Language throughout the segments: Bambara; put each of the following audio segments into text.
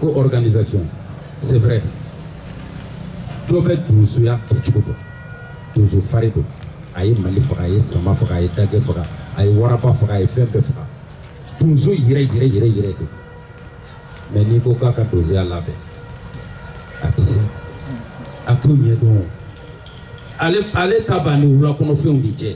ko organisation c'est vrai dɔ bɛ donsoya kɛcogo dɔn donso fari don a ye mali faga a ye sama faga a ye dagɛ faga a ye waraba faga a ye fɛn bɛɛ faga donso yɛrɛ yɛrɛ yɛrɛ yɛrɛ don mais n'i ko k'a ka donsoya labɛn a tɛ se a t'o ɲɛdɔn ale ale ta banni wulakɔnɔfɛnw de cɛ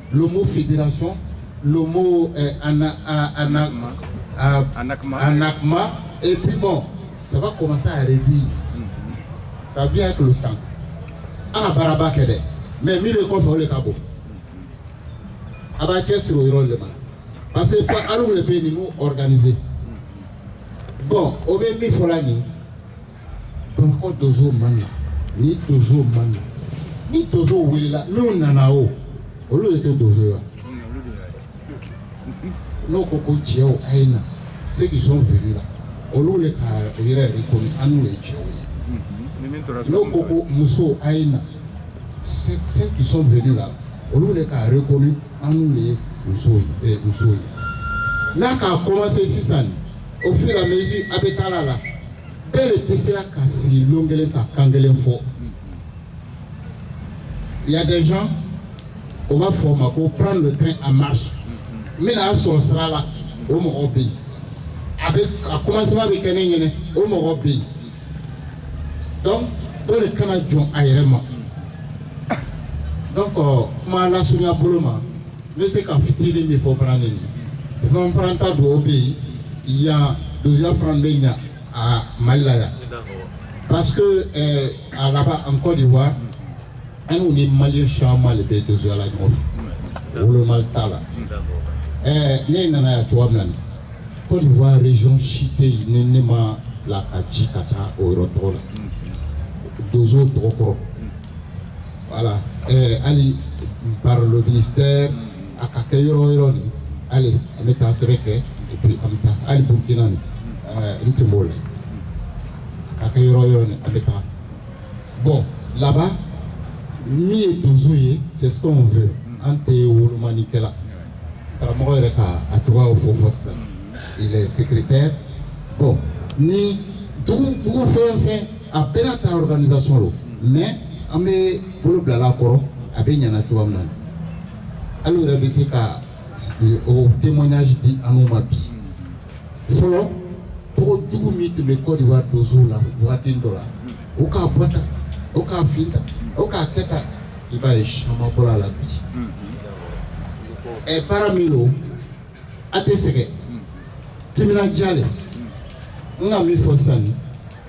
Lobo federation lobo anakuma epbon saba kɔmasa yɛrɛ bi yen saya kulu tan an ka baaraba kɛ dɛ mɛ mi bɛ kɔfɛ o de ka bɔ a b'a kɛ siri yɔrɔ de ma parce que ali de bɛ yen ninnu k2e bɔn o bɛ min fɔra nin donso ma na ni donso ma na ni donso welela min nana o olu de tɛ donso ye wa n'o ko ko cɛw a ye na ceux qui sont venus là olu de ka o yɛrɛ reconnu anu de ye cɛw ye n'o ko ko musow a ye na ceux qui sont venus là olu de ka a reconnu anu de ye muso ye muso ye n'a k'a commencer sisan au fur et à mesure a bɛ taa la bɛɛ de tɛ sera ka sigi lon kelen ka kan kelen fɔ il y a des gens o b'a fɔ o ma ko prendre le train en marche min bɛna a sɔrɔ sira la o mɔgɔ bɛ yen a bɛ a commencement bɛ kɛ min ɲɛna o mɔgɔ bɛ yen donc bɛɛ de kana jɔn a yɛrɛ ma donc euh, kuma lasurunya bolo ma N bɛ se ka fitinin min fɔ fana nin fana ta dugawu bɛ yen yan donsoya fana bɛ ɲɛ a mali la yan parce que là-bas en Côte d'Ivoire anw ni maliens caman de bɛ donsoya la ɲɔgɔn fɛ wolomali t'a la ɛɛ ne nana yan cogo min na en Côte d'Ivoire région si tɛ yen ni ne ma la ka ji ka taa o yɔrɔ tɔgɔ la donso tɔgɔ kɔrɔ voilà ɛɛ hali par le ministère a ka kɛ yɔrɔ yɔrɔ nin hali an bɛ taa sɛbɛn kɛ et puis an bɛ taa hali Burkina nin ɛɛ n tun b'o la ka kɛ yɔrɔ yɔrɔ nin an bɛ taa bon là-bas min ye donso ye c'est ce qu'on veut an tɛ wolomani kɛla karamɔgɔ yɛrɛ ka a cogoyaw fɔ fɔ sisan il est secrétaire bon ni dugu dugu fɛn fɛn a bɛɛ n'a ta organisation don mais an bɛ bolo bilala a kɔrɔ a bɛ ɲana cogoya min na alu yɛrɛ bɛ se ka eh, o témoignage di an ma bi fɔlɔ tɔgɔ jugu min tun bɛ Côte d'Ivoire donsow la waati dɔ la o k'a bɔ tan o k'a fin tan o k'a kɛ tan i b'a ye caman bɔra a la bi ɛ baara min don a tɛ sɛgɛn timinandiya de n ka min fɔ sisan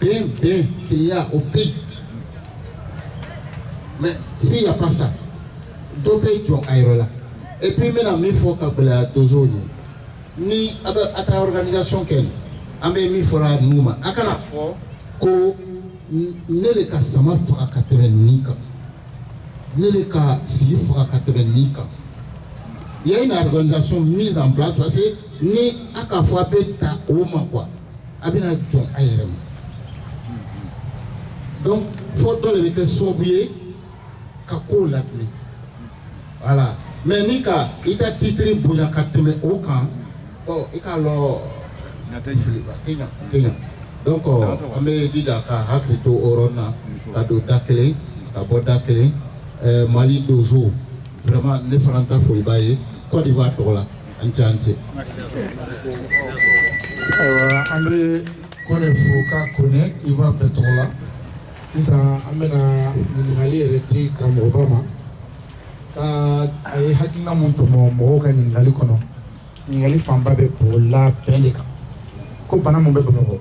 bɛn bɛn kelenya o bɛ yen mais si y a pas ça dɔ bɛ jɔn a yɛrɛ la et puis n bɛna min fɔ ka gɛlɛya donsow ye ni a bɛ a ta organisation kɛ nin an bɛ min fɔra ninnu ma a kana a fɔ ko ne de ka sama faga ka tɛmɛ nin kan ne de ka sigi faga ka tɛmɛ nin kan il y a une organisation mise en place parce que ni a ka fɔ a bɛ ta o ma quoi A bɛna jɔn a yɛrɛ ma donc fɔ dɔ de bɛ kɛ sababu ye ka kow latilen voilà mais n'i ka i ta titre bonya ka tɛmɛ o kan ɔ i k'a lɔn a tɛ ɲɛ a tɛ ɲɛ a tɛ ɲɛ donc an bɛ jija ka hakili to ɲɔgɔn na ka don da kelen ka bɔ da kelen ɛɛ Mali donso vraiment ne fana ta foli b'a ye Côte d'Ivoire tɔgɔ la. an ni ɲɔgɔn cɛ ayiwa an bɛ Kone fo k'a Côte d'Ivoire bɛɛ tɔgɔ la sisan an bɛna ɲininkali yɛrɛ di karamɔgɔba ma ka a ye hakilina min tɔmɔ mɔgɔw ka ɲininkali kɔnɔ ɲininkali fanba bɛɛ bolila bɛn de kan ko bana min bɛ Bamakɔ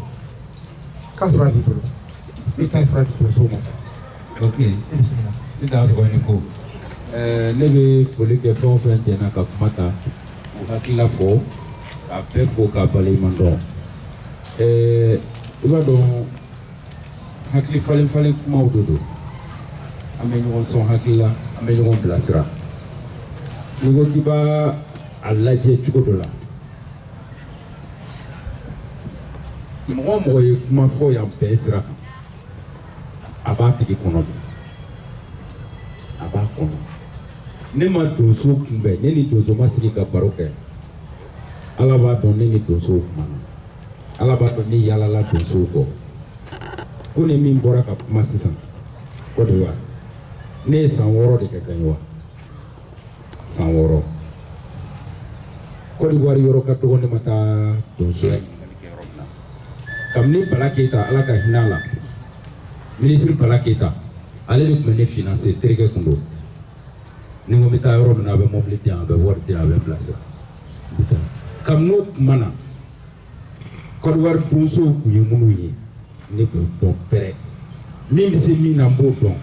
k'a fura b'i bolo i ka fura di donsow ma sa ok e bɛ se ka ne t'a sɔrɔ ni ko ɛɛ ne bɛ foli kɛ fɛn o fɛn jɛnna ka kuma ta u hakilila fɔ k'a bɛɛ fo k'a waleɲuman dɔn ɛɛ i b'a dɔn hakili falen falen kumaw de don an bɛ ɲɔgɔn sɔn hakili la an bɛ ɲɔgɔn bilasira n'i ko k'i b'a lajɛ cogo dɔ la mɔgɔ o mɔgɔ ye kuma fɔ yan bɛɛ sira kan a b'a tigi kɔnɔ bi a b'a kɔnɔ ne ma donso kunbɛn ne ni donso ma sigi ka baro kɛ ala b'a dɔn ne ni donsow kumana ala b'a dɔn ne yaalala donsow kɔ Kone min bɔra ka kuma sisan Côte d'Ivoire ne ye san wɔɔrɔ de kɛ Gagnoa san wɔɔrɔ kɔdiwari yɔrɔ ka dɔgɔ ne ma taa donso la ɲininkali kɛ yɔrɔ min na kabini bala keyita ala ka hinɛ a la minisiri bala keyita ale de tun bɛ ne finanse terikɛ tun don ni n ko n bɛ taa yɔrɔ min na a bɛ mɔbili di yan a bɛ wari di yan a bɛ n bilasira n bɛ taa kabini o tuma na kɔdiwari donsow tun ye minnu ye ne b'o dɔn bɛrɛ min bɛ se min na n b'o dɔn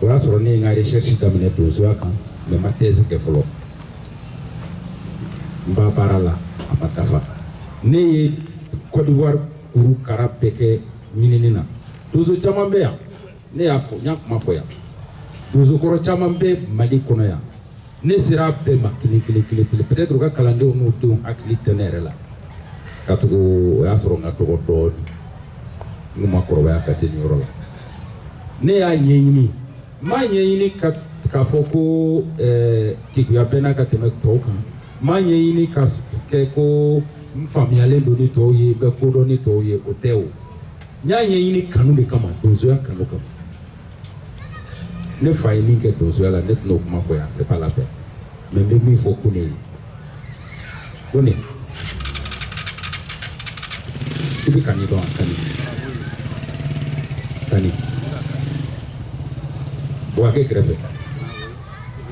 o y'a sɔrɔ ne ye n ka recherche daminɛ donsoya kan mais n ma thèse kɛ fɔlɔ n b'a baara la a ma dafa ne ye Côte d'Ivoire kuru kara bɛɛ kɛ ɲinini na donso caman bɛ yan ne y'a fɔ n y'a kuma fɔ yan donso kɔrɔ caman bɛ Mali kɔnɔ yan ne sera bɛɛ ma kelen kelen kelen kelen peut être u ka kalandenw n'u denw hakili tɛ ne yɛrɛ la katugu o y'a sɔrɔ n ka dɔgɔ dɔɔnin n tun ma kɔrɔbaya ka se nin yɔrɔ la ne y'a ɲɛɲini n m'a ɲɛɲini ka k'a fɔ ko ɛɛ keguya bɛ n na ka tɛmɛ tɔw kan n m'a ɲɛɲini ka kɛ ko n faamuyalen don ni tɔw ye n bɛ ko dɔn ni tɔw ye o tɛ o n y'a ɲɛɲini kanu de kama donsoya kanu kama ne fa ye min kɛ donsoya la ne tɛn'o kuma fɔ yan c'est pas la peine mais n bɛ min fɔ Kone ye Kone i bɛ Kani dɔn wa Kani Kani Buwake kɛrɛfɛ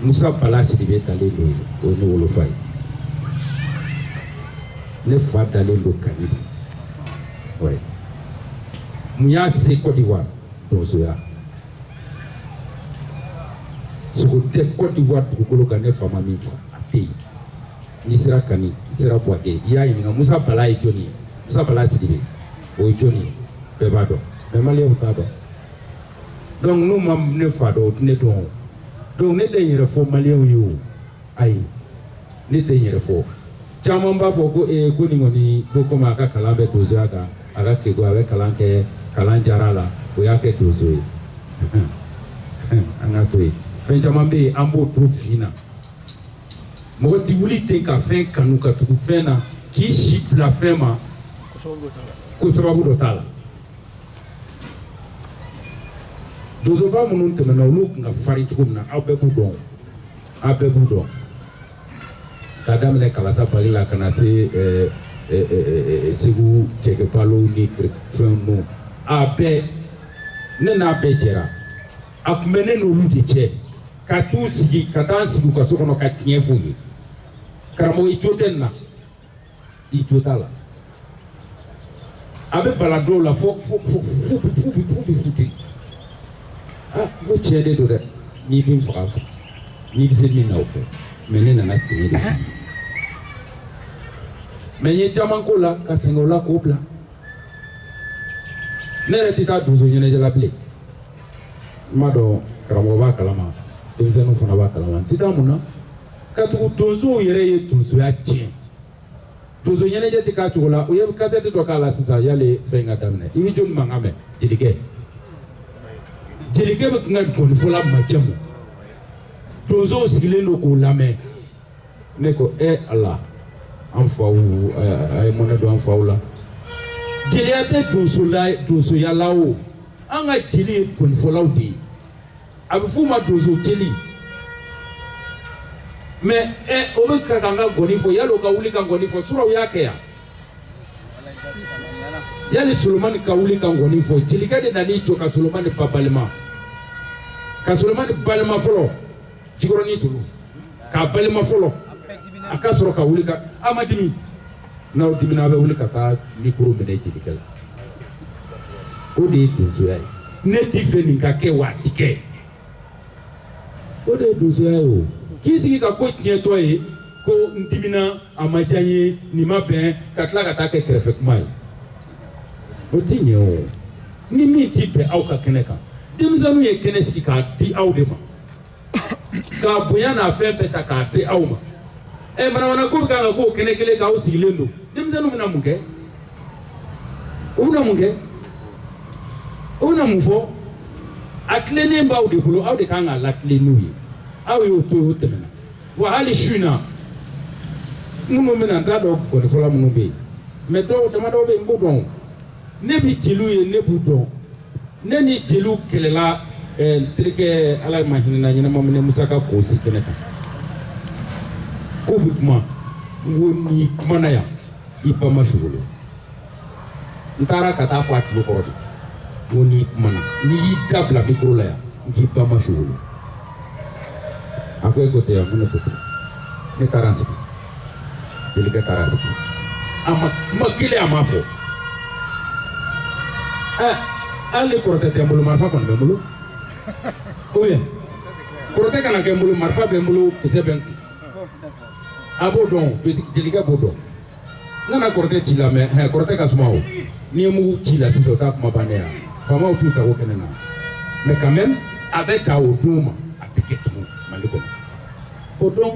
Musa Bala Sidibe dalen don yen o ye ne wolofa ye ne fa dalen don Kani de ouais mun y'a se Côte d'Ivoire donsoya sogo tɛ cote d'ivoire dugukolo kan ne fa ma min faga a tɛ yen n'i sera kani i sera buwake i y'a ɲininka musa bala ye jɔni ye musa bala sidibe o ye jɔni ye bɛɛ b'a dɔn mais maliyɛnw t'a dɔn donc n'u ma ne fa dɔn u tɛ ne dɔn o donc ne tɛ n yɛrɛ fɔ maliyɛnw ye o ayi ne tɛ n yɛrɛ fɔ caman b'a fɔ ko ee ko nin kɔni ko komi a ka kalan bɛ donsoya kan a ka kegun a bɛ kalan kɛ kalan diyara a la o y'a kɛ donso ye an ka to yen fɛn caman bɛ yen an b'o to fin na mɔgɔ tɛ wuli ten ka fɛn kanu ka tugu fɛn na k'i si bila fɛn ma ko sababu dɔ t'a la donsoba minnu tɛmɛna olu tun ka farin cogo min na aw bɛɛ b'u dɔn a bɛɛ b'u dɔn k'a daminɛ kalasa bali la ka na se eh, eh, eh, segu cɛkɛbalo ni fɛn ninnu a bɛɛ ne n'a bɛɛ jɛra a tun bɛ ne n'olu de cɛ ka t'u sigi ka taa sigi u ka so kɔnɔ ka tiɲɛ f'u ye karamɔgɔ i jo tɛ nin na i jo t'a la a bɛ bala dɔw la fo fo fo fo bi fo bi fo bi futi ah n ko tiɲɛ de don dɛ n'i bɛ n faga faga n'i bɛ se min na o kɛ mɛ ne nana tiɲɛ de f'i ye mɛ n ye caman k'o la ka sɛgɛn o la k'o bila ne yɛrɛ tɛ taa donso ɲɛnajɛ la bilen n b'a dɔn karamɔgɔ b'a kalama denmisɛnninw fana b'a kalama n tɛ taa mun na. katugu donsow yɛrɛ ye donsoya tiɲɛ donso ɲɛnajɛ tɛ k'a cogo la u ye kasɛti dɔ k'a la sisan yali fɛn ka daminɛ i bɛ jɔni mankan mɛn jelikɛ jelikɛ bɛ to ka gɔnifɔla majamu donsow sigilen don k'u lamɛn ne ko e ala an faw a ye mɔnɛ don an faw la jeliya tɛ donsola donsoya la o an ka jeli ye gɔnifɔlaw de ye a bɛ f'o ma donso jeli mɛ ɛ o de ka kan ka gɔni fɔ yali o ka wuli ka gɔni fɔ surɔ u y'a kɛ yan yali solomani ka wuli ka gɔni fɔ jelikɛ de nan'i jɔ ka solomani ba balima ka solomani balima fɔlɔ jikɔrɔni solo k'a balima fɔlɔ a ka sɔrɔ ka wuli ka a ma dimi n'aw dimina aw bɛ wuli ka taa mikoro minɛ jelikɛ la o de ye donsoya ye ne t'a fɛ nin ka kɛ wa a ti kɛ o de ye donsoya ye o k'i sigi ka ko tiɲɛtɔ ye ko n dimina a ma diya n ye nin ma bɛn ka tila ka taa kɛ kɛrɛfɛ kuma ye o ti ɲɛ o ni min ti bɛn aw ka kɛnɛ kan denmisɛnninw ye kɛnɛ sigi k'a di aw de ma ka bonya n'a fɛn bɛɛ ta k'a di aw ma ɛ manamana ko bɛ kan ka k'o kɛnɛ kelen kan aw sigilen don denmisɛnninw bɛna mun kɛ u bɛna mun kɛ u bɛna mun fɔ a tilenni b'aw de bolo aw de kan k'a latilen u ye aw y'o to yen o tɛmɛna wa hali su in na minnu bɛna n t'a dɔn gɔnifɔla minnu bɛ yen mɛ dɔw damadɔw bɛ yen n b'o dɔn o ne bɛ jeliw ye ne b'u dɔn ne ni jeliw kɛlɛla ɛɛ n terikɛ ala ma hinɛna ɲɛnama minɛ musa ka kɔnsi kɛnɛ kan k'u bɛ kuma n ko n'i kumana yan i ba ma sogolo n taara ka t'a fɔ a tulo kɔrɔ de n ko n'i kumana n'i y'i da bila mikoro la yan n k'i ba ma sogolo a ko e ko tɛ yan ko ne ko tɛ ne taara n sigi jelikɛ taara sigi a ma kuma kelen a ma fɔ ɛ hali kɔrɔtɛ tɛ n bolo marifa kɔni bɛ n bolo ou bien kɔrɔtɛ kana kɛ n bolo marifa bɛ n bolo kisɛ bɛ n kun a b'o dɔn jelikɛ b'o dɔn N kana kɔrɔtɛ ci la mais hɛ kɔrɔtɛ ka suma o n'i ye mugu ci la sisan o ta kuma bannen ya faamaw t'u sago kɛ ne na mais quand même a bɛ ka o d'u ma a tɛ kɛ tugun mali kɔnɔ ko donc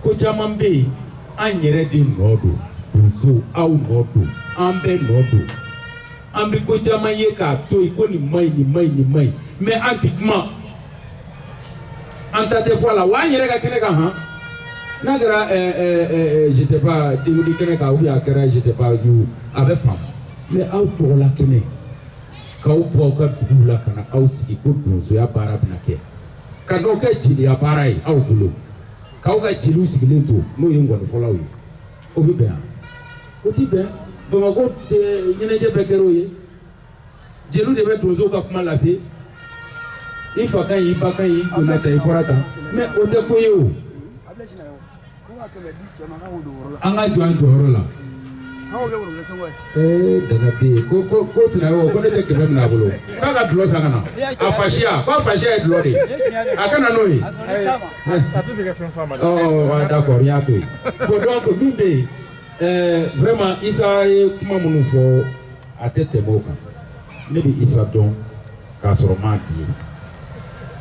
ko caman bɛ yen an yɛrɛ de nɔ don donso aw nɔ don an bɛɛ nɔ don An bɛ ko caman ye k'a to yen ko nin maɲi nin maɲi nin maɲi mais an tɛ kuma an ta tɛ fɔ a la wa an yɛrɛ ka kɛnɛ kan han n'a kɛra ɛɛ ɛɛ ɛɛ je sais pas denkundi kɛnɛ kan ou bien a kɛra je sais pas you a bɛ faamu mais aw tɔgɔla kɛnɛ k'aw bɔ aw ka duguw la ka na aw sigi ko donsoya baara bɛna kɛ ka n'o kɛ jeliya baara ye aw bolo k'aw ka jeliw sigilen to n'o ye ngɔnifɔlaw ye o bɛ bɛn o tɛ bɛn bamakɔ ɲɛnajɛ bɛɛ kɛra o ye jeliw de bɛ donsow ka kuma lase i fa ka ɲi i ba ka ɲi i donna tan i bɔra tan mais o tɛ ko ye o an ka jɔ an jɔyɔrɔ la Ee danga bɛ yen ko ko ko sinaɲɔgɔn ko ne tɛ kɛmɛ minɛ a bolo k'a ka dulɔ san ka na a fasiya k'a fasiya ye dulɔ de ye a ka na n'o ye ɔ d'accord n y'a to yen bon donc min bɛ yen ɛɛ vraiment Isa ye kuma minnu fɔ a tɛ tɛmɛ o kan. ne bɛ isa dɔn k'a sɔrɔ m'a bi ye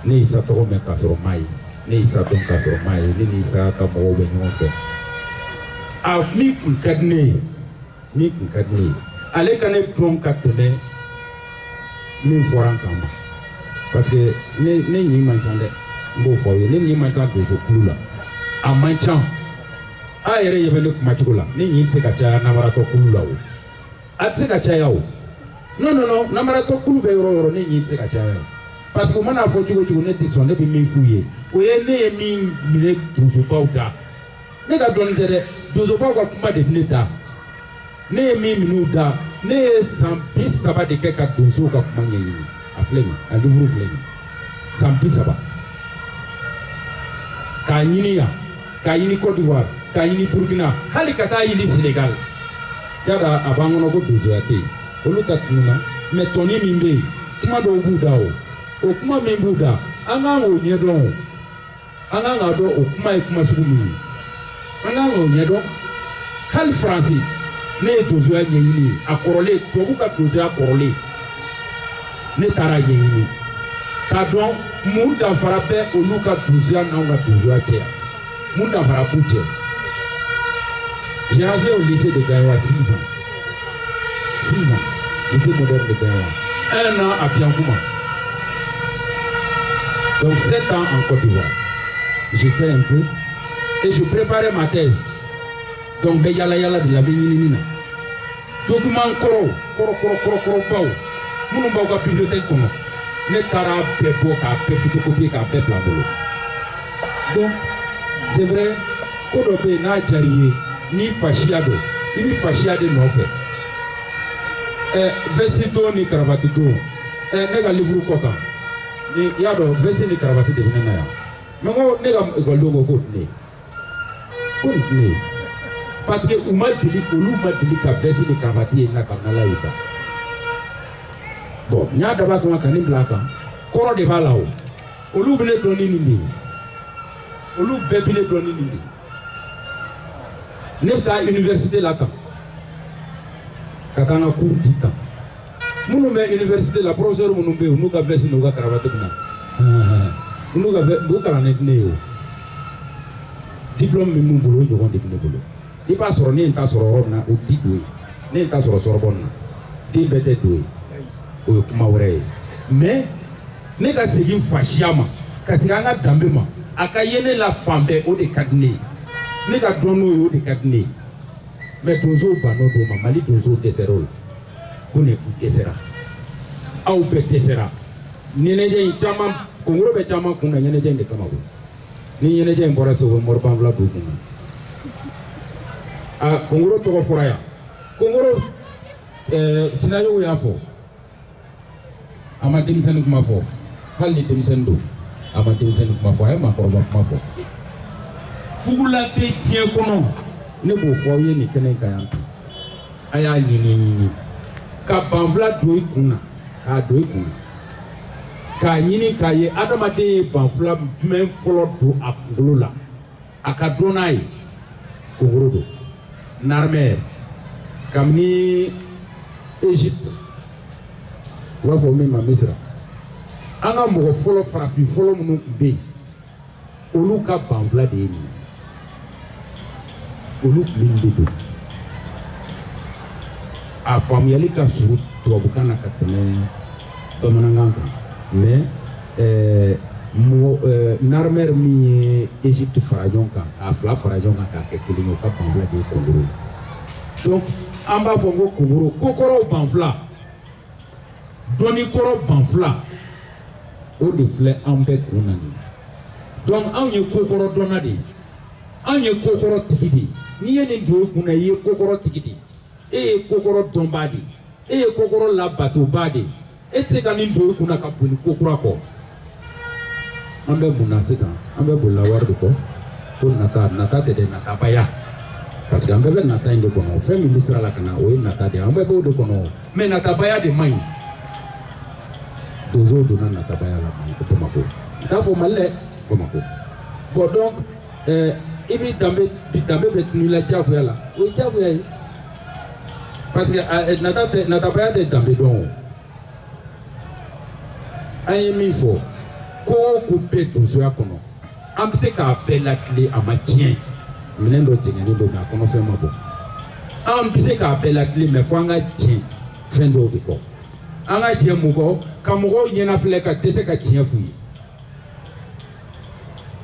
ne ye isa tɔgɔ mɛn k'a sɔrɔ m'a ye ne ye isa dɔn k'a sɔrɔ m'a ye ne ni isa ka mɔgɔw bɛ ɲɔgɔn fɛ a min tun ka di ne ye min tun ka di ne ye ale ka ne dɔn ka tɛmɛ min fɔra n kan ma parce que ne ne ɲin man ca dɛ n b'o fɔ aw ye ne ɲin man ca donso kulu la a man ca a yɛrɛ ɲɛ bɛ ne kumacogo la ne ɲin tɛ se ka caya namaratɔ kulu la o a tɛ se ka caya o non non non namaratɔ kulu bɛ yɔrɔ yɔrɔ ne ɲin tɛ se ka caya o parce que u man'a fɔ cogo cogo ne tɛ sɔn ne bɛ min f'u ye o ye ne ye min minɛ donsobaw da ne ka dɔnni tɛ dɛ donsobaw ka kuma de bɛ ne da ne ye min minɛ u da ne ye san bi saba de kɛ ka donsow ka kuma ɲɛɲini a filɛ nin a livre filɛ nin san bi saba k'a ɲini yan k'a ɲini Côte d'Ivoire k'a ɲini Burkina hali ka t'a ɲini Sénégal yala a b'an kɔnɔ ko donsoya tɛ yen olu ta tununna mais tɔnin min bɛ yen kuma dɔw b'u da o o kuma min b'u da an kan k'o ɲɛdɔn o an kan k'a dɔn o kuma ye kuma sugu min ye an kan k'o ɲɛdɔn hali faransi ne ye donsoya ɲɛɲini yen a kɔrɔlen tubabu ka donsoya kɔrɔlen ne taara ɲɛɲini k'a dɔn mun danfara bɛ olu ka donsoya n'anw ka donsoya cɛ mun danfara b'u cɛ j'ai enseigné au lycée de Gagnoa 6 ans six ans lycée moderne de Gagnoa un an à Biankouma donc sept ans en Côte d'Ivoire j'enseignais un peu et je préparais ma thèse donc n bɛ yala yala de la n bɛ ɲinini na document kɔrɔw kɔrɔ kɔrɔ kɔrɔ kɔrɔbaw minnu b'aw ka bibliothèque kɔnɔ ne taara bɛɛ bɔ k'a bɛɛ photocopie k'a bɛɛ bila n bolo. donc c'est vrai ko dɔ bɛ yen n'a diyara i ye n'i fasiya don i bɛ fasiya de nɔfɛ ɛ eh, vɛsi don ni karabati don ɛ eh, ne ka livuru kɔ kan ni i y'a dɔn vɛsi ni karabati de bɛ ne na yan mɛ ko ne ka ekɔlidenw ko k'o tɛ ne ye ko nin tɛ ne ye parce que u ma deli olu ma deli ka vɛsi ni karabati ye n kan na ye da bon n y'a dabɔ a kama ka nin bila a kan kɔrɔ de b'a la o. olu bɛ ne dɔn ni nin de ye olu bɛɛ bɛ ne dɔn ni nin de ye ne bɛ taa université la tan ka taa n ka cours di tan minnu bɛ université la professeur minnu bɛ yen n'u ka veste n'u ka karavati bɛ na n'u ka veste u kalannen tɛ ne ye o diplôme min b'u bolo o ɲɔgɔn de bɛ ne bolo. i b'a sɔrɔ ne ye n ta sɔrɔ yɔrɔ min na o tɛ don yen ne ye n ta sɔrɔ Sorbonne na den bɛɛ tɛ don yen o ye kuma wɛrɛ ye mais ne ka segin fasiya ma ka segin an ka danbe ma a ka ye ne la fan bɛɛ o de ka di ne ye ne ka dɔn n'o ye o de ka di ne ye mais donsow bann'o don ma mali donsow dɛsɛra o la ko ne u dɛsɛra aw bɛɛ dɛsɛra ɲɛnajɛ in caman kongoro bɛ caman kun na ɲɛnajɛ in de kama koyi ni ɲɛnajɛ in bɔra segu mori banfula b'u kun na a kongoro tɔgɔ fɔra yan kongoro eh, sinayogo y'a fɔ a ma denmisɛnnin kuma fɔ hali ni denmisɛnnin don a ma denmisɛnnin kuma fɔ a ye maakɔrɔba kuma fɔ fugula tɛ diɲɛ kɔnɔ ne b'o fɔ aw ye nin kɛnɛ kan yan bi a y'a ɲini ɲini ka banfula don i kun na k'a don i kun na k'a ɲini k'a ye adamaden ye banfula jumɛn fɔlɔ don a kunkolo la a ka dɔn n'a ye kongoro don narmɛr kabini egypte u b'a fɔ min ma misira an ka mɔgɔ fɔlɔ farafin fɔlɔ minnu tun bɛ yen olu ka banfula de ye nin olu minnu de don a faamuyali ka surun tubabukan na ka tɛmɛ bamanankan kan mais ɛɛ mɔgɔ ɛɛ narmɛri min ye egypte fara ɲɔgɔn kan k'a fila fara ɲɔgɔn kan k'a kɛ kelen ye o ka banfula de ye kongoro ye donc an b'a fɔ ko kongoro kokɔrɔw banfula dɔnni kɔrɔ banfila o de filɛ anw bɛɛ kun na nin donc anw ye kokɔrɔ dɔnna de ye anw ye kokɔrɔ tigi de ye n'i ye nin don i kun na i ye kokɔrɔ tigi de ye e ye kokɔrɔ dɔnbaa de ye e ye kokɔrɔ labatobaa de ye e tɛ se ka nin don i kun na ka boli kokura kɔ an bɛ mun na sisan an bɛ boli la wari de kɔ ko nata nata tɛ dɛ natabaya parce que an bɛɛ bɛ nata in de kɔnɔ fɛn min bɛ sira la ka na o ye nata de ye an bɛɛ b'o de kɔnɔ mɛ natabaya de man ɲi donsow donna natabaya la bamakɔ n t'a fɔ mali dɛ bamakɔ bɔn donc ɛɛ i b'i danbe bi danbe bɛ tunu i la diyagoya la o ye diyagoya ye parce que nata tɛ natabaya tɛ danbe dɔn o. an ye min fɔ ko o ko bɛ donsoya kɔnɔ an bɛ se k'a bɛɛ latilen a ma tiɲɛ minɛn dɔ jɛngɛnnen don mɛ a kɔnɔfɛn ma bɔn an bɛ se k'a bɛɛ latilen mɛ fo an ka diɲɛ fɛn dɔw de kɔ an ka diɲɛ mun kɔ ka mɔgɔw ɲɛnafilɛ ka dɛsɛ ka tiɲɛ f'u ye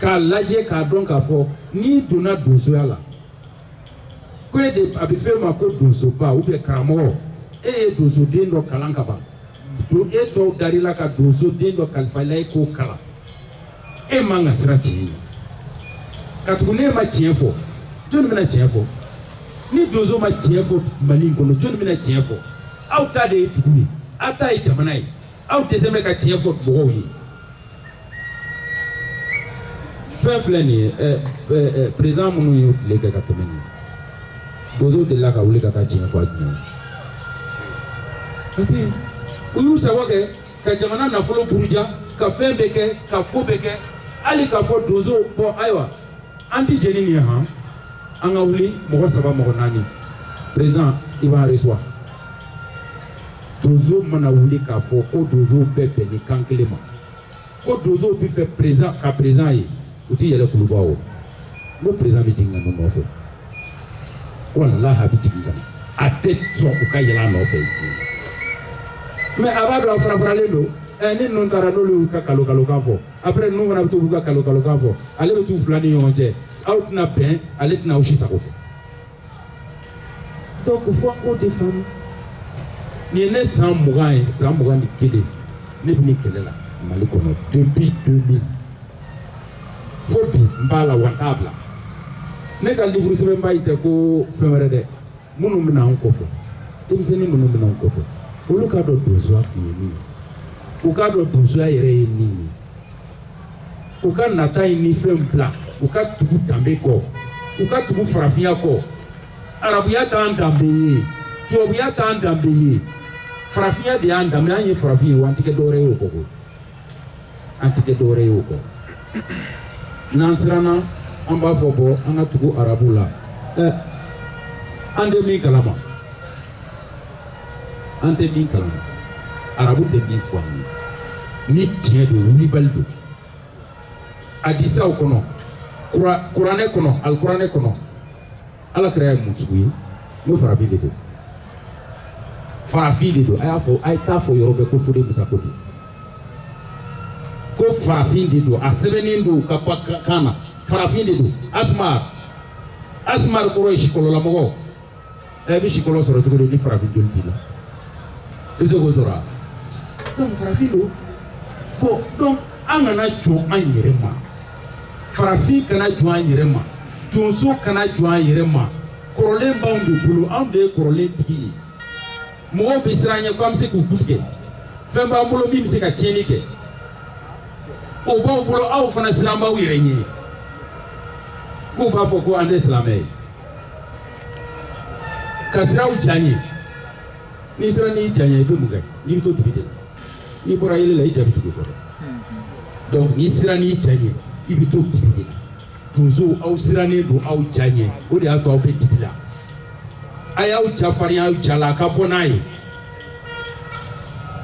k'a lajɛ k'a dɔn k'a fɔ n'i donna donsoya la ko e de a bɛ f'e ma ko donsoba ou bien karamɔgɔ e ye donsoden dɔ kalan ka ban don e tɔw dar'i la ka donsoden dɔ kalifa i la e k'o kalan e man ka siran tiɲɛ ɲɛ katugu ni e ma tiɲɛ fɔ jɔni bɛna tiɲɛ fɔ ni donso ma tiɲɛ fɔ mali in kɔnɔ jɔni bɛna tiɲɛ fɔ aw ta de ye dugu ye aw ta ye jamana ye aw dɛsɛ bɛ ka tiɲɛ fɔ mɔgɔw ye fɛn filɛ nin ye ɛ ɛ ɛ perezan minnu y'u tile kɛ ka tɛmɛ nin donsow delila ka wuli ka taa tiɲɛ fɔ a jumɛn o tɛ u y'u sago kɛ ka jamana nafolo buruja ka fɛn bɛɛ kɛ ka ko bɛɛ kɛ hali k'a fɔ donsow bɔn ayiwa an tɛ jɛn ni nin ye han an ka wuli mɔgɔ saba mɔgɔ naani perezan i b'an resuwa donso mana wuli k'a fɔ ko donsow bɛɛ bɛnnen kan kelen ma ko donsow bɛ fɛ perezan ka perezan ye u tɛ yɛlɛ kuluba o n ko perezan bɛ jigin ka n'u nɔfɛ walahi a bɛ jigin ka na a tɛ sɔn u ka yɛlɛ a nɔfɛ mɛ a b'a dɔn a farafaralen don ɛ ni ninnu taara n'olu y'u ka kalo kalokan fɔ après ninnu fana bɛ to k'u ka kalo kalokan fɔ ale bɛ t'u fila ni ɲɔgɔn cɛ aw tɛna bɛn ale tɛna aw si sago kɛ Donc fo an k'o de faamu nin ye ne san mugan ye san mugan ni kelen ne bɛ nin kɛlɛ la mali kɔnɔ depuis 2000 fo bi n b'a la wa n t'a bila ne ka livre sɛbɛnba in tɛ ko fɛn wɛrɛ dɛ minnu bɛna an kɔfɛ denmisɛnnin minnu bɛna an kɔfɛ olu k'a dɔn donsoya kun ye min ye u k'a dɔn donsoya yɛrɛ ye min ye u ka nata in ni fɛnw bila u ka tugu danbe kɔ u ka tugu farafinya kɔ arabuya t'an danbe ye tubabuya t'an danbe ye farafinya de y'an danbe an ye farafin ye wa an tɛ kɛ dɔwɛrɛ ye o kɔ koyi an tɛ kɛ dɔwɛrɛ ye o kɔ n'an siranna an b'a fɔ bon an ka tugu arabu la ɛ an tɛ min kalama an tɛ min kalama arabu bɛ min fɔ an ye ni tiɲɛ don wulibali don adisaw kɔnɔ kuranɛ kɔnɔ alikuranɛ kɔnɔ ala kira ye mun sugu ye n'o farafin de don farafin de don a y'a fɔ a ye t'a fɔ yɔrɔ bɛɛ ko fode musa ko don ko farafin de don a sɛbɛnnen don ka ba kan na farafin de don asumar asumar kɔrɔ ye sikɔlɔlamɔgɔ e bɛ sikɔlɔ sɔrɔ cogo di ni farafin joli t'i la i bɛ se k'o sɔrɔ wa donc farafin don bon donc an kana jɔn an yɛrɛ ma farafin kana jɔn an yɛrɛ ma donso kana jɔn an yɛrɛ ma kɔrɔlen b'anw de bolo anw de ye kɔrɔlen tigi ye mɔgɔw bɛ siran an ɲɛ ko an bɛ se k'u ku tigɛ fɛn b'an bolo min bɛ se ka tiɲɛni kɛ o b'aw bolo aw fana siran b'aw yɛrɛ ɲɛ k'u b'a fɔ ko an tɛ silamɛ ye ka siran aw ja ɲɛ n'i siranna i ja ɲɛ i bɛ mun kɛ n'i bɛ to dibi de la n'i bɔra yeelen na i ja bɛ tugu i kɔ donc n'i siranna i ja ɲɛ i bɛ to dibi de la donsow aw sirannen don aw ja ɲɛ o de y'a to aw bɛ dibi la a y'aw ja farinya aw ja la a ka bɔ n'a ye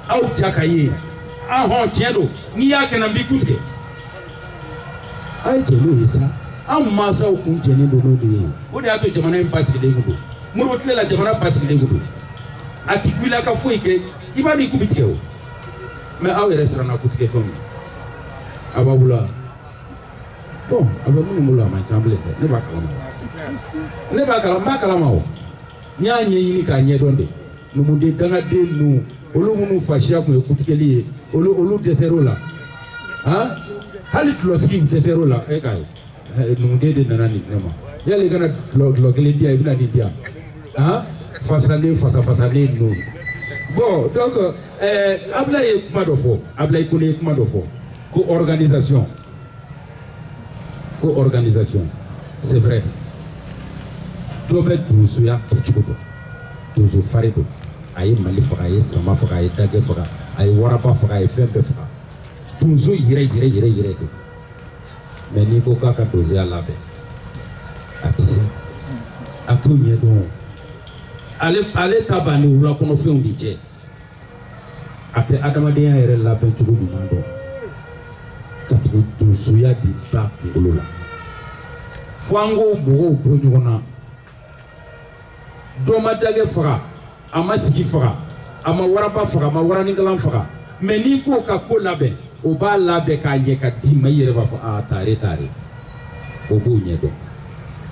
aw ja ka ye an hɔn tiɲɛ don n'i y'a kɛ na n b'i ku tigɛ a ye jɛ n'o ye sa an mansaw kun jɛlen don n'o de ye o de y'a to jamana in basigilen kun don modibo tile la jamana basigilen kun don a ti wuli a ka foyi kɛ i b'a dɔn i ku bi tigɛ o mais aw yɛrɛ siranna ku tigɛ fɛnw a b'aw bolo wa bon a bɛ minnu bolo a man ca bilen dɛ ne b'a kalama ne b'a kalama n b'a kalama o n'i y'a ɲɛɲini k'a ɲɛdɔn de numuden dangaden ninnu olu minnu fasiya tun ye kutigɛli ye olu olu dɛsɛr'o la han hali tulosigi dɛsɛr'o la e ka ye numuden de nana nin ne ma yali i kana tulo tulo kelen di yan i bɛna nin di yan han fasalen fasafasalen ninnu bon donc ɛɛ abulayi ye kuma dɔ fɔ abulayi kɔni ye kuma dɔ fɔ ko organisation ko organisation c'est vrai dɔ bɛ donsoya kɛcogo dɔn donso farin don a ye mali faga a ye sama faga a ye dagɛ faga a ye waraba faga a ye fɛn bɛɛ faga donso yɛrɛ yɛrɛ yɛrɛ yɛrɛ don mais n'i ko k'a ka donsoya labɛn a tɛ se a t'o ɲɛdɔn ale ale ta b'a ni wulakɔnɔfɛnw de cɛ a tɛ adamadenya yɛrɛ labɛn cogo ɲuman dɔn katugu donsoya de b'a kunkolo la fo an k'o mɔgɔw bɔ ɲɔgɔn na dɔ ma dagɛ faga a ma sigi faga a ma waraba faga a ma waraninkalan faga mais n'i k'o ka ko labɛn o b'a labɛn k'a ɲɛ k'a d'i ma i yɛrɛ b'a fɔ a taare taare o b'o ɲɛ dɔn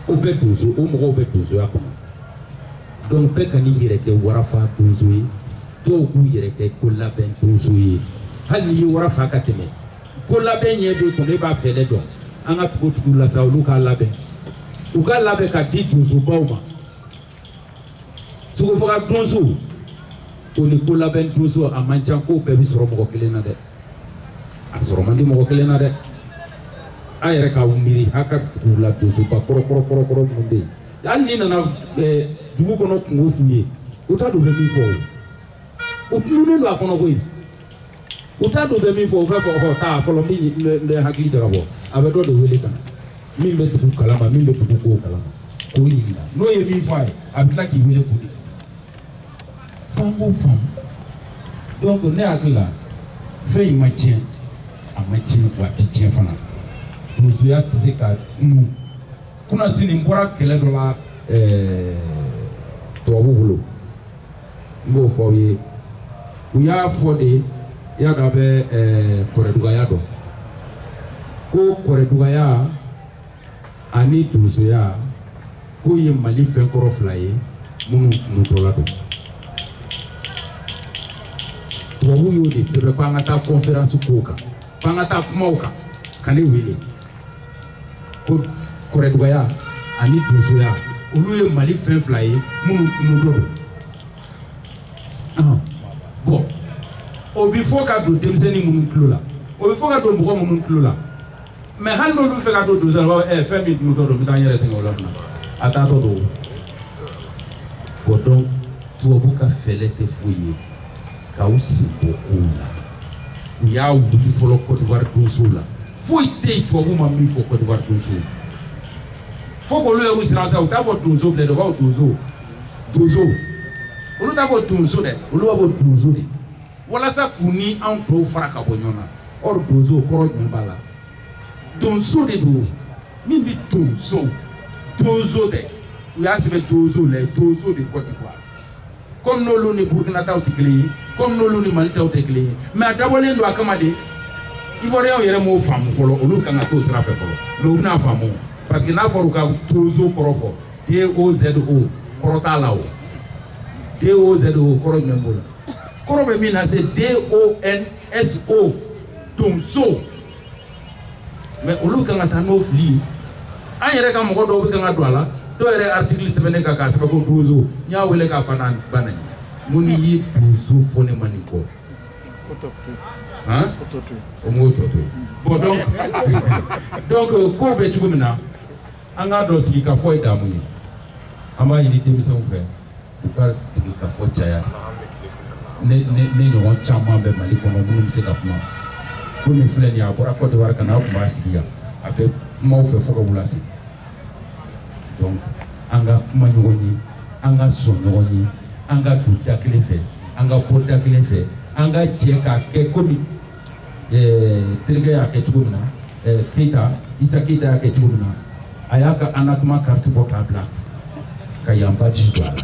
o bɛ donso o mɔgɔw bɛ donsoya kɔnɔ Donc bɛɛ kan'i yɛrɛ kɛ warafa donso ye dɔw b'u yɛrɛ kɛ ko labɛn donso ye hali n'i ye wara fa ka tɛmɛ ko labɛn ɲɛ dɔn tun b'a fɛ ne dɔn an ka tugu tugu la olu ka labɛn u ka labɛn ka di donsobaw ma sogo faga donso o ni ko labɛn donso a man ca ko bɛɛ bɛ sɔrɔ mɔgɔ kelen na dɛ a sɔrɔ man di mɔgɔ kelen na dɛ a yɛrɛ ka miiri a ka dugu la donsoba kɔrɔkɔrɔ kɔrɔkɔrɔ minnu bɛ yen hali n'i nana eh, dugu kɔnɔ kunko f'u ye u t'a dɔn u bɛ min fɔ o u tununen don a kɔnɔ koyi u t'a dɔn u bɛ min fɔ u b'a fɔ ɔ taa fɔlɔ n bɛ hakili jagabɔ a bɛ dɔ de wele ka na min bɛ dugu kalama min bɛ dugu kow kalama k'o ɲininka n'o ye min fɔ a ye a bɛ tila k'i wele k'o de fɔ F'an k'o faamu donc ne hakili la fɛn in ma tiɲɛ a ma tiɲɛ wa a ti tiɲɛ fana donsoya tɛ se ka tunun kunasini n bɔra kɛlɛ dɔ la eh, tubabu bolo n b'o fɔ aw ye u y'a fɔ de y'a dɔn a bɛ eh, kɔrɛdugaya dɔn ko kɔrɛdugaya ani donsoya k'o ye mali fɛn kɔrɔ fila ye minnu tununtɔla don tubabu y'o de sɛbɛn ko an ka taa kɔnferansi kow kan ko an ka taa kumaw kan ka ne wele ko kɔrɛdugaya ani donsoya olu ye mali fɛn fila ye minnu tununtɔ don bon o bɛ fɔ ka don denmisɛnnin minnu tulo la o bɛ fɔ ka don mɔgɔ minnu tulo la mais hali n'olu fɛ ka don donsoya la u b'a fɔ ɛ fɛn min tununtɔ don n bɛ taa n yɛrɛ sɛgɛn o la fana a taatɔ don o donc tubabu ka fɛɛrɛ tɛ foyi ye k'aw sen bɔ kow la u y'a wuli fɔlɔ kɔdiwari donso la foyi tɛ yen tubabu ma min fɔ kɔdiwari donso fo k'olu y'u siran sa u t'a fɔ donso bilen dɛ u b'a fɔ dozo dozo olu t'a fɔ donso dɛ olu b'a fɔ dozo de walasa k'u ni anw tɔw fara ka bɔ ɲɔgɔn na or dozo kɔrɔ jumɛn b'a la donso de don min bɛ don so dozo tɛ u y'a sɛbɛn dozo les dozos de Côte d'Ivoire comme n'olu ni Burkina taw tɛ kelen ye comme n'olu ni Mali taw tɛ kelen ye mais a dabɔlen don a kama de Ivoiriyɛnw yɛrɛ m'o faamu fɔlɔ olu kan ka t'o sira fɛ fɔlɔ mais u bɛna faamu parce que n'a fɔra u ka dozo kɔrɔ fɔ D O Z O kɔrɔ t'a la o D O Z O kɔrɔ jumɛn b'o la. kɔrɔ bɛ min na c'est donso donso mɛ olu kan ka taa n'o fili ye an yɛrɛ ka mɔgɔ dɔw bɛ kan ka don a la dɔw yɛrɛ artikili sɛbɛnnen kan k'a sɛbɛn ko donso n y'a wele k'a fa n'a ba nɛni n ko n'i ye donso fɔ ne ma nin kɔ o m'o tɔ to yen bɔn donc donc euh, ko bɛ cogo min na an k'a dɔn sigi ka fɔ ye damu ye an b'a ɲini denmisɛnw fɛ u ka sigi ka fɔ caya ne ɲɔgɔn caman bɛ mali kɔnɔ minnu bɛ se ka kuma ko min filɛ nin ye a bɔra kɔdiwari ka na a tun b'a sigi yan a bɛ kuma aw fɛ fo ka wula se donc an ka kuma ɲɔgɔn ye an ka sɔn ɲɔgɔn ye an ka don da kelen fɛ an ka bɔ da kelen fɛ an ka jɛ k'a kɛ komi eh, terikɛ y'a kɛ cogo min na eh, Keyita Isa Keyita y'a kɛ cogo min na a y'a ka ANACMA carte bɔ k'a bila ka yan badge don a la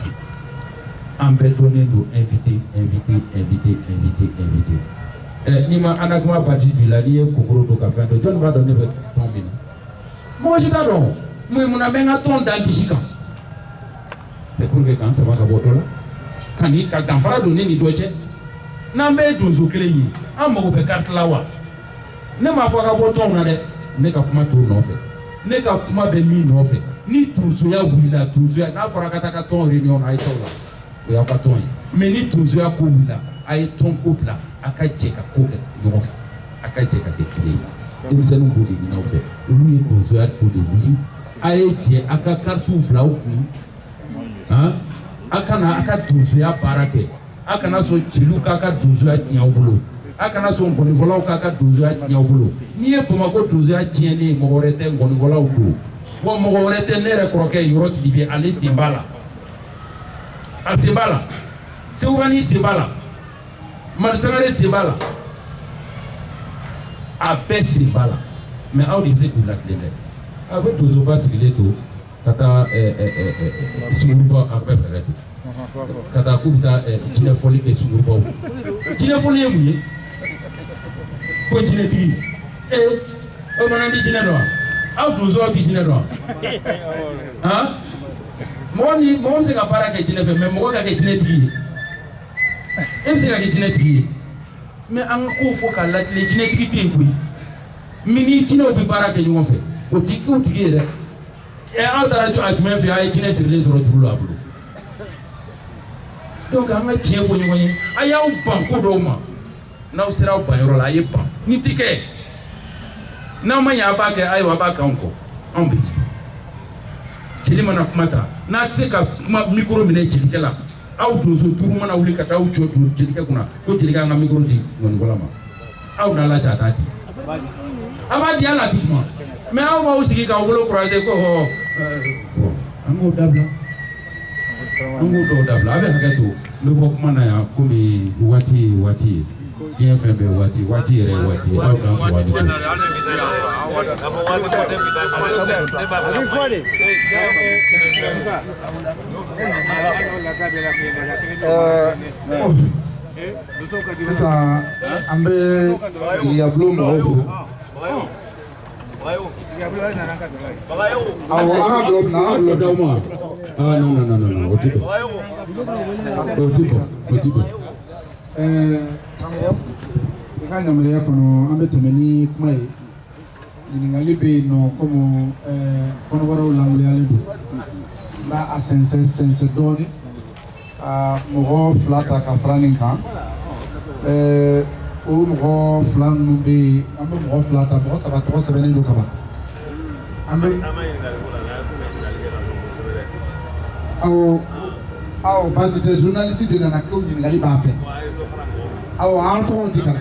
an bɛɛ dɔnnen don invité invité invité invité invité eh, n'i ma ANACMA badge don i la n'i ye kokoro don ka fɛn dɔ jɔni b'a dɔn ne bɛ tɔn min na mɔgɔ si t'a dɔn mun munna n bɛ n ka tɔn da n disi kan C'est pour que k'an sama ka bɔ dɔ la ka ni ka danfara don ne ni dɔ cɛ n'an bɛɛ ye donso kelen ye an mago bɛ carte la wa ne m'a fɔ a ka bɔ tɔnw na dɛ ne ka kuma t'o nɔfɛ ne ka kuma bɛ min nɔfɛ ni donsoya wulila donsoya n'a fɔra ka taa ka tɔn réunion na a ye t'o la o y'aw ka tɔn ye mais ni donsoya ko wulila a ye tɔn ko bila a ka jɛ ka ko kɛ ɲɔgɔn fɛ a ka jɛ ka kɛ kelen ye denmisɛnninw b'o de ɲini aw fɛ olu ye donsoya ko de wuli A ye jɛ a ka karitiw bila aw kun a kana a ka donsoya baara kɛ a kana sɔn jeliw k'a ka donsoya tiɲɛ aw bolo a kana sɔn ngɔnifɔlaw k'a ka donsoya tiɲɛ aw bolo n'i ye bamakɔ donsoya tiɲɛnen ye mɔgɔ wɛrɛ tɛ ngɔnifɔlaw don wa mɔgɔ wɛrɛ tɛ ne yɛrɛ kɔrɔkɛ Yɔrɔ Sidibe ale sen b'a la a sen b'a la Sekubanin sen b'a la Madu Sangare sen b'a la a bɛɛ sen b'a la mɛ aw de bɛ se k'u latilen dɛ a bɛ donsoba sigilen to ka taa suguba a bɛɛ fɛɛrɛ bi ka taa k'u bɛ taa jinɛfɔli kɛ sugubaw jinɛfɔli ye mun ye ko jinɛtigi ee o mana di jinɛ dɔn aw donso aw tɛ jinɛ dɔn han mɔgɔ ni mɔgɔ bɛ se ka baara kɛ jinɛ fɛ mɛ mɔgɔ ka kɛ jinɛtigi ye e bɛ se ka kɛ jinɛtigi ye mɛ an ka ko fɔ k'a latilen jinɛtigi tɛ yen koyi min ni jinɛw bɛ baara kɛ ɲɔgɔn fɛ o tɛ k'u tigi ye dɛ ɛ aw taara jɔ a jumɛn fɛ a ye jinɛ sirilen sɔrɔ juru la a bolo donc an ka tiɲɛ fɔ ɲɔgɔn ye a y'aw ban ko dɔw ma n'aw sera aw ban yɔrɔ la a ye ban ni ti kɛ n'aw ma ɲɛ a b'a kɛ ayiwa a b'a k'anw kɔ anw bɛ jeli mana kuma ta n'a tɛ se ka kuma mikoro minɛ jelikɛ la aw donso duuru mana wuli ka taa aw jɔ jelikɛ kunna ko jelikɛ an ka mikoro di ŋɔnifɔla ma aw n'a lajɛ a t'a di a b'a di a la tigi ma mɛ aw b'aw sigi k'aw bolo kurase ko hɔ an k'o dabila an k'o dɔw dabila a bɛ hakɛ to n bɛ bɔ kuma na yan komi waati ye waati ye diɲɛ fɛn bɛɛ waati waati yɛrɛ ye waati ye aw k'an sɔrɔ ani ko. Abi fɔ de. sisan an bɛ yabulon mɔgɔw fo awɔ an ka dɔ bila an ka dɔ ma aa non non non non o ti bɛn o ti bɛn o ti bɛn ɛɛ i ka yamaruya kɔnɔ an bɛ tɛmɛ ni kuma ye Ɲininkali bɛ yen nɔ komi kɔnɔbaraw lawaleyalen don n bɛ a sɛnsɛn sɛnsɛn dɔɔnin ka mɔgɔ fila ta ka fara nin kan ɛɛ o mɔgɔ fila ninnu bɛ yen an bɛ mɔgɔ fila ta mɔgɔ saba tɔgɔ sɛbɛnnen don kaban an bɛ aw aw parce que journaliste de nana ko ɲininkali b'a fɛ aw k'a tɔgɔ di ka na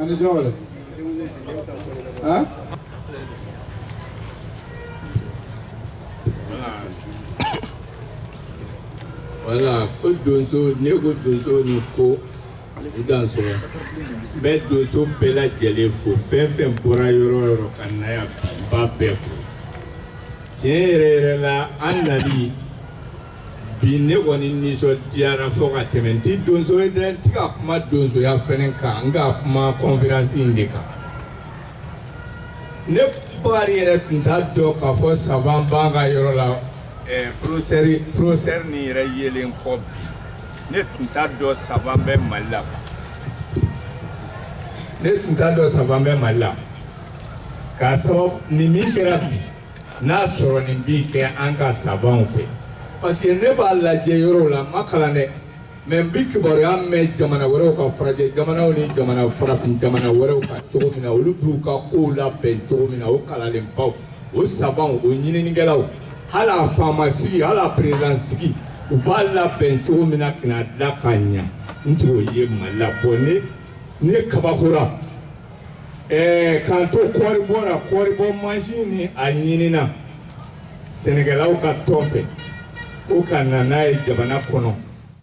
ani jɔn wɛrɛ han. voilà ko donso ni ko donso ni ko i danso n bɛ donso bɛɛ lajɛlen fo fɛn fɛn bɔra yɔrɔ o yɔrɔ ka na yan bi n b'a bɛɛ fo tiɲɛ yɛrɛ yɛrɛ la an nali. bi ne kɔni nisɔndiyara fo ka tɛmɛ n tɛ donso ye dɛ n tɛ ka kuma donsoya fɛnɛ kan n ka kuma kɔnferansi in de kan ne bakari yɛrɛ tun t'a dɔn k'a fɔ saban b'an ka yɔrɔ la eh, porofesɛri porofesɛri nin yɛrɛ yelen kɔ bi ne tun t'a dɔn saban bɛ mali la quoi. ne tun t'a dɔn saban bɛ mali la k'a sɔrɔ nin min kɛra bi n'a sɔrɔ nin bi kɛ an ka sabanw fɛ parce que ne b'a lajɛ yɔrɔw la n ma kalan dɛ mais n bi kibaruya mɛn jamana wɛrɛw ka farajɛ jamanaw ni jamana farafin jamana wɛrɛw ka cogo min na olu b'u ka kow labɛn cogo min na o kalanlenbaw o sabanw o ɲininikɛlaw hali a faama sigi hali a perezidan sigi u b'a labɛn cogo min na ka n'a dila ka ɲa n t'o ye mali la bon ne ne kabakora Ɛɛ k'an to kɔɔri bɔ la, kɔɔri bɔ mansin nin a ɲinina sɛnɛkɛlaw ka tɔn fɛ, ko ka na n'a ye jamana kɔnɔ.